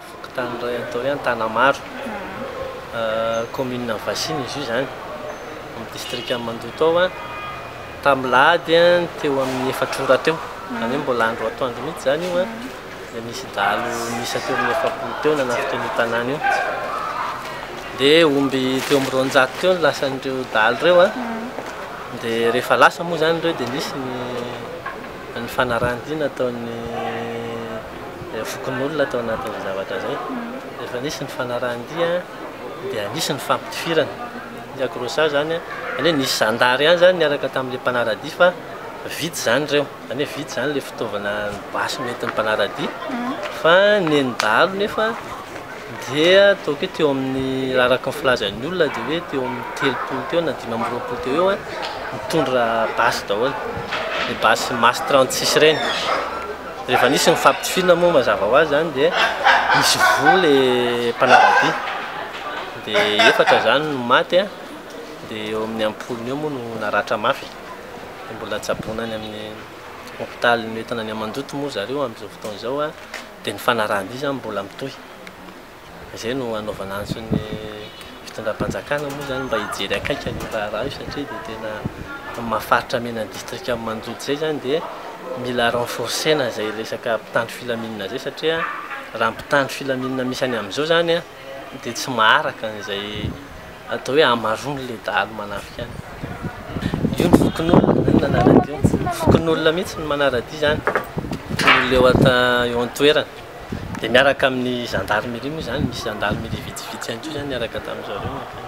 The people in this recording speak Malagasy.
Fokontany iray atao hoe Antanamaro, kaominina Vasina izy io izany, amin'ny distrikan'i Mandoto ao. Tamin'ny lahady teo amin'ny efatra ora teo, izany hoe mbola andro atoandro mihitsy izany io, dia nisy dahalo miisa teo amin'ny efapolo teo nanafika an'io tanàna io. Dia omby teo amin'ny roanjato teo no lasan'ireo dahalo ireo. Dia rehefa lasa moa izany ireo dia nisy ny Ny fanarahan-dia nataon'ny fokonolona tao anatin'izay zavatra izay, rehefa nisy ny fanarahan-dia dia nisy ny fampitifirana. Ny accrochage izany, izany hoe nisy zandary ihany izany niaraka tamin'ilay mpanara-dia fa vitsy izany ireo, izany hoe vitsy izany ilay fitaovana ny basy noentin'ny mpanara-dia fa ny an'ny dahalo nefa, dia ataoko hoe teo amin'ny raha araka ny filazan'ny olona dia hoe teo amin'ny telopolo teo na dimy amby roapolo teo eo mitondra basy daholo ny basy mas 36 ireny rehefa nisy ny fampitifirana moa mazava ho azy zany dia nisy voa le mpanaradia dia efatra zany no maty a dia eo amin'ny ampolony eo moa no naratra mafy dia mbola tsaboina any amin'ny hopitalin'ny hoentina any amandoto moa zareo amin'izao fotoana izao a Dia ny fanarahan-dia izany mbola mitohy. Izay no hanaovana antso ny fitondram-panjakana moa izany mba hijery akaiky an'io raharaha io satria dia tena maha faritra mena ny distrikan'i Mandoto izay izany dia mila renforcer-na izay resaka mpitandro filaminana izay satria raha ny mpitandro filaminana misy any amin'izao izany dia tsy maharaka an'izay atao hoe hamaroan'ny ilay dahalo manafika any. Io ny fokonolona no nanara-dia. Fokonolona mihitsy no manara-dia izany. Fokonolona eo ata eo an-toerana. Dia miaraka amin'ny gendarmerie moa izany, misy gendarmerie vitsivitsy ihany koa izany niaraka tamin'ny zareo mankany.